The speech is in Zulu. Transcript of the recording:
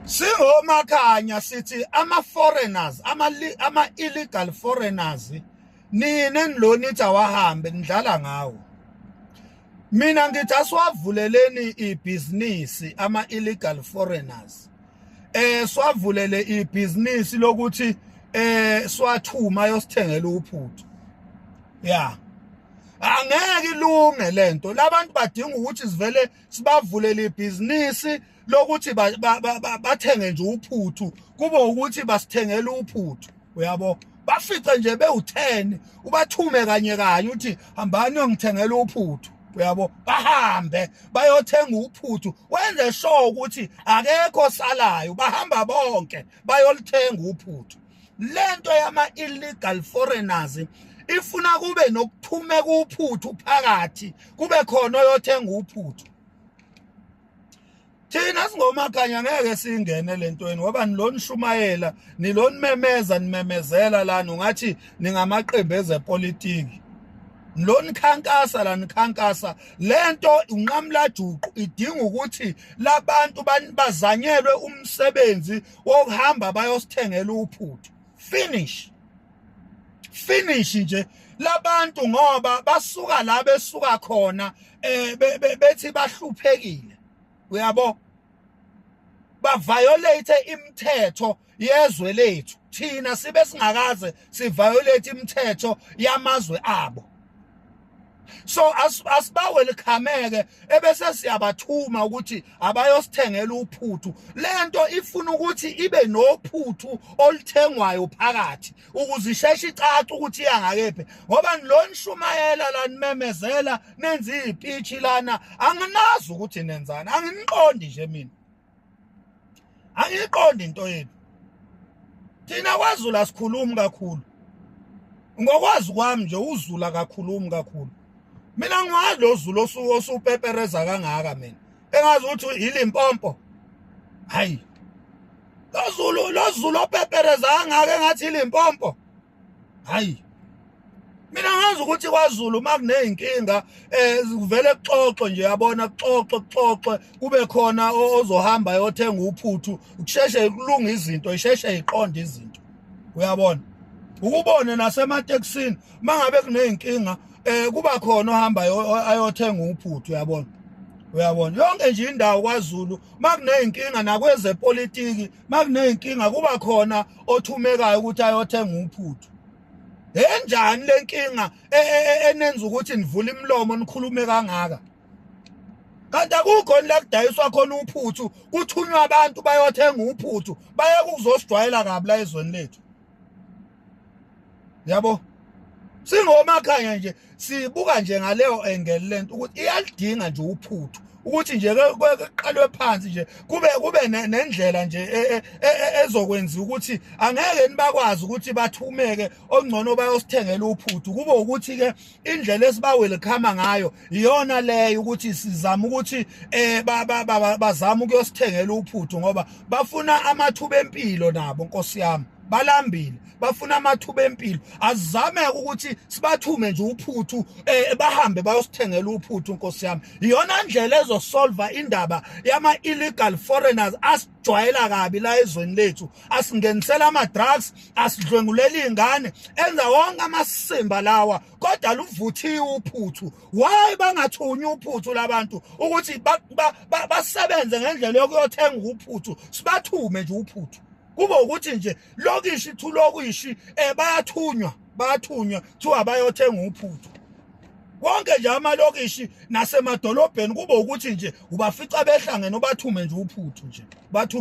Singomakhanya sithi ama foreigners ama ama illegal foreigners nina enilonithi awahambe nidlala ngawo mina ngithi asiwavuleleni ibhizinisi ama illegal foreigners eh swavulele ibhizinisi lokuthi eh swathuma yosithengela uphuthu ya angeke ilunge lento labantu badinga ukuthi sivele sibavulele ibhizinisi lokuthi bathenge nje uphuthu kube ukuthi basithengela uphuthu uyabo bafice nje bewu-10 ubathume kanye kanye uthi hambani uyongithengela uphuthu uyabo bahambe bayothenga uphuthu wenze sure ukuthi akekho salayo bahamba bonke bayolithenga uphuthu lento yama illegal foreigners ifuna kube nokuthumeka uphuthu phakathi kube khona oyothenga uphuthu thina singomakanya ngeke singene lentweni ngoba nilonishumayela nilonimemeza nimemezela lana ungathi ningamaqembu ezepolitiki lonikhankasa la nikhankasa lento unqamlajuqu idinga ukuthi labantu bazanyelwe umsebenzi wokuhamba bayosithengela uphuthu finish finish nje labantu ngoba basuka la besuka khona eh bethi bahluphekile uyabo ba violate imithetho yezwe lethu thina sibe singakaze si violate imithetho yamazwe abo so asibawelcomeke ebese siyabathuma ukuthi abayosithengela uphuthu lento ifuna ukuthi ibe nophuthu oluthengwayo phakathi ukuze isheshe icace ukuthi iya ngakephi ngoba lo nishumayela la nimemezela nenza iy'pitshi lana anginazi ukuthi nenzani anginiqondi nje mina angiyiqondi into yenu thina kwazulu asikhulumi kakhulu ngokwazi kwami nje uzulu akakhulumi kakhulu mina ngiwazi lo zulu osupepereza kangaka mina engazi ukuthi yilimpompo hayi lozulu lozulu opepereza angake ngathi yilimpompo hayi mina ngazi ukuthi kwaZulu makunezinkinga eh kuvele kuxoxwe nje yabona kuxoxwe kuxoxwe kube khona ozohamba yothenga uphuthu kusheshe kulunga izinto isheshe iqonde izinto uyabona ukubone nasematekisini mangabe kuneyinkinga eh kuba khona ohamba ayothenga uphuthu uyabona uyabona yonke nje indawo kwaZulu makuneyinkinga nakwezepolitiki makuneyinkinga kuba khona othumekayo ukuthi ayothenga uphuthu enjani lenkinga e, e, e, enenza ukuthi nivule imilomo nikhulume kangaka kanti akukho la kudayiswa khona uphuthu kuthunywa abantu bayothenga uphuthu baye kuzosijwayela kabi la ezweni lethu yabo singomakhanya nje sibuka nje ngaleyo engel lento ukuthi iyalidinga nje uphuthu ukuthi nje kuqalwe phansi nje kube kube nendlela nje e, e, e, ezokwenza ukuthi angeke nibakwazi ukuthi bathumeke ongcono bayosithengela uphuthu kube ukuthi ke indlela esibawelkhama ngayo iyona leyo ukuthi sizama ukuthi eh bazama ukuyosithengela uphuthu ngoba bafuna amathuba empilo nabo nkosi yami balambile bafuna amathuba empilo azame ukuthi sibathume nje uphuthu eh bahambe bayosithengela uphuthu nkosi yami iyona ndlela ezosolva indaba yama illegal foreigners asijwayela kabi la ezweni lethu asingenisela ama drugs asidlwenguleli ingane enza wonke amasimba lawa kodwa luvuthiwe uphuthu why bangathunywa uphuthu labantu ukuthi basebenze ngendlela yokuyothenga uphuthu sibathume nje uphuthu kube ukuthi nje lokishi thulokishi eh bayathunywa bathunywa kuthiwa bayothenga uphuthu konke nje amalokishi nasemadolobheni kube ukuthi nje ubafica behlangene ubathume nje uphuthu nje bathume